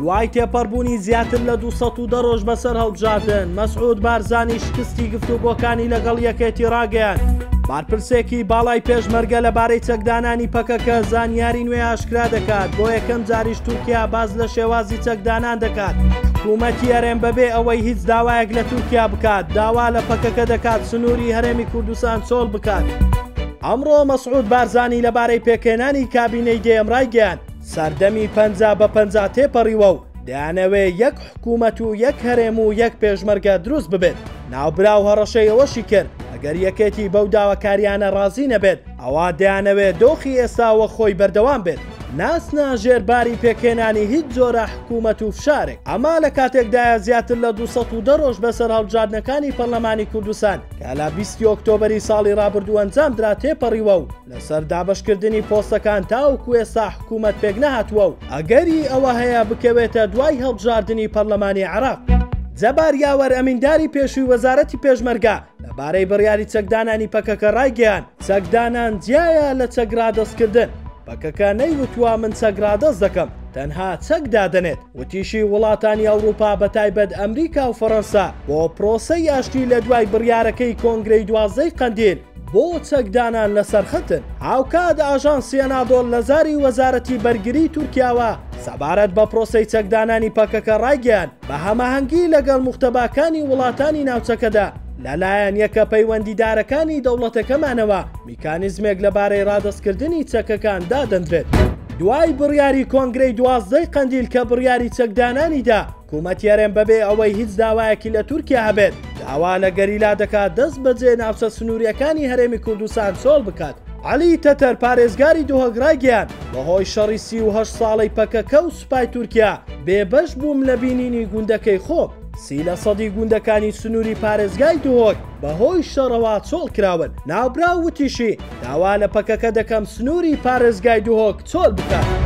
دوای تێپەڕبوونی زیاتر لە 200 دە ڕۆژ بەسەر هەڵبژاردن مەسعود بارزانی شکستی گفتوگۆکانی لەگەڵ یەکێتی ڕاگەیان بارپرسێکی باڵای پێشمەرگە لەبارەی چەکدانانی پەکەکە زانیاری نوێ ئاشکرا دەکات بۆ یەکەم جاریش تورکیا باز لە شێوازی چەکدانان دەکات حکوومەتی هەرێم بەبێ ئەوەی هیچ داوایەک لە تورکیا بکات داوا لە پەکەکە دەکات سنووری هەرێمی کوردستان چۆڵ بکات. ئەمڕۆ مەسعود بارزانی لەبارەی پێکهێنانی کابینەی دەیەم رایگەیاند، سەردەمی پەنجا بە پەنجا تێپەڕیوە و دەیانەوێ یەک حکوومەت و یەک هەرێم و یەک پێشمەرگە دروست ببێت. ناوبراو هەڕەشەی ئەوەشی کرد، ئەگەر یەکێتی بەو داواکارییانە رازی نەبێت، ئەوا دەیانەوێ دۆخی ئێستا وەک خۆی بەردەوام بێت، نەچنە ژێر باری پێکهێنانی هیچ جۆرە حکوومەت و فشارێک. ئەمە لە کاتێکدایە زیاتر لە دوو سەد و دە رۆژ بەسەر هەڵبژاردنەکانی پەرلەمانی کوردستان، کە لە بیست ی ئۆکتۆبەری ساڵی رابردوو ئەنجامدرا تێپەڕیوە و لەسەر دابەشکردنی پۆستەکان تاوەکو ئێستا حکوومەت پێکنەهاتووە و ئەگەری ئەوە هەیە بکەوێتە دوای هەڵبژاردنی پەرلەمانی عێراق. جەبار یاوەر ئەمینداری پێشووی وەزارەتی پێشمەرگە لەبارەی بڕیاری چەکدانانی پەکەکە رایگەیاند، چەکدانان جیایە لە چەک رادەستکردن، پەکەکە نەیوتووە من چەک رادەست دەکەم، تەنها چەک دادەنێت. وتیشی، وڵاتانی ئەوڕوپا بە تایبەت ئەمریکا و فەڕەنسا بۆ پرۆسەی ئاشتی لە دوای بڕیارەکەی کۆنگرەی دوازدەی قەندیل بۆ چەکدانان لە سەرخەتن. هاوکات ئاژانسی ئەنادۆڵ لە زاری وەزارەتی بەرگری تورکیاوە سەبارەت بە پرۆسەی چەکدانانی پەکەکە ڕایگەیاند، بە هەماهەنگی لەگەڵ موختەباکانی وڵاتانی ناوچەکەدا لە لایەن یەکە پەیوەندیدارەکانی دەوڵەتەکەمانەوە، کانیزمێک لەبارەی ڕادەستکردنی چەکەکان دادەندرێت. دوای بڕیاری کۆنگرەی دوازدە ی قەندیل کە بڕیاری چەک دانانی دا، کومەتی هەرێم بەبێ ئەوەی هیچ داوایەکی لە تورکیا هەبێت، داوا لە گەریلا دەکات دەست بەجێ ناوچە سنوورییەکانی هەرێمی کوردستان چۆڵ بکات. عەلی تەتەر پارێزگاری دهۆک ڕایگەیاند، بەهۆی شەڕی سی و هەشت ساڵەی پەکەکە و سوپای تورکیا، بێبەش بووم لە بینینی گوندەکەی خۆم. سی لە سەدی گوندەکانی سنووری پارێزگای دهۆک بەهۆی شەڕەوە چۆڵکراون، ناوبراو وتیشی، داوا لە پەکەکە دەکەم سنووری پارێزگای دهۆک چۆل بکات.